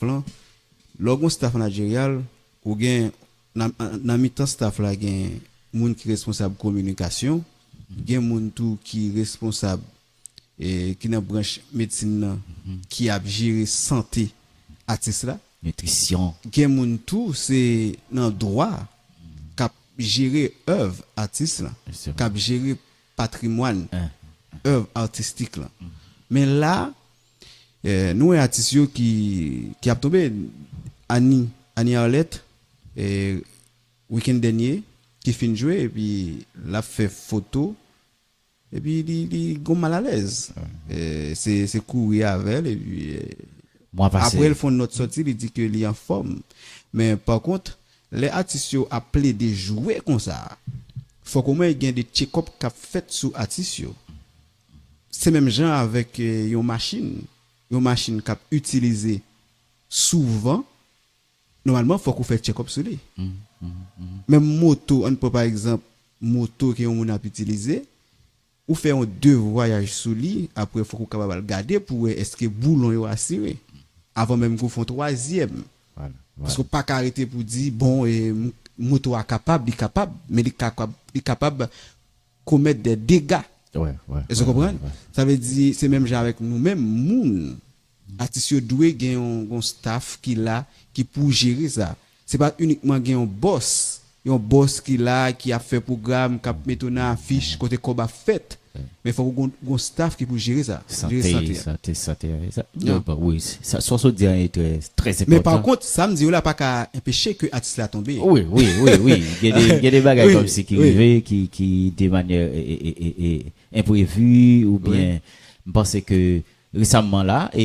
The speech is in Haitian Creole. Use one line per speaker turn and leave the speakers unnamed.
Plan, Lè w gen yon staf manajeryal, ou gen, nan mitan staf la gen moun ki responsab kominikasyon, gen moun tou ki responsab ki nan branch medsin nan ki ap jere sante atis la, nitrisyon, gen
moun tou
se nan dwa k ap jere èv atis lan, k ap jere patrimwàn èv atistik lan. Men la. Nou wè atis yo ki ki ap tonbe Annie Annie Arlette weekend dènye ki fin jwe epi lap fè foto epi li li gon mal alèz se se kouri avèl epi aprèl fon nòt sòti li di ke li anfòm men pa kont lè atis yo ap plede jwe konsa fòk omwen gen de tchekòp kap fèt sou atis yo. Se menm jan avèk yon machin, yon machin kap itilize souvan, nòmalman fòk ou fè tchèkòp sou li. Menm moto, ann pran pa egzanp moto ke yon moun ap itilize, ou fè yon de vwayaj sou li, aprè fòk ou kapab al gade pou wè eske boulon yo asire, avan menm ke ou fè yon twazyèm. Paske ou pa ka rete pou di, bon, moto a kapab, li kapab, men li kapab komèt dè dega èske w konprann sa vle di se menm jan avèk nou menm moun atis yo dwe gen yon staff ki la ki pou jere sa se pa inikman gen yon bòs yon bòs ki la ki ap fè pwogram kap mete w nan afich kote kòb ap fèt men fòk ou gon staff ki pou jere sa sante
sante sante sa w sot di a e trè trè enpòtan. Sam diw la
paka enpeche ke atis la tonbe. Wi wi wi wi
gen de bagay komsi ki rive ki de manyè enprevi oubyen mpanse ke resamman la e.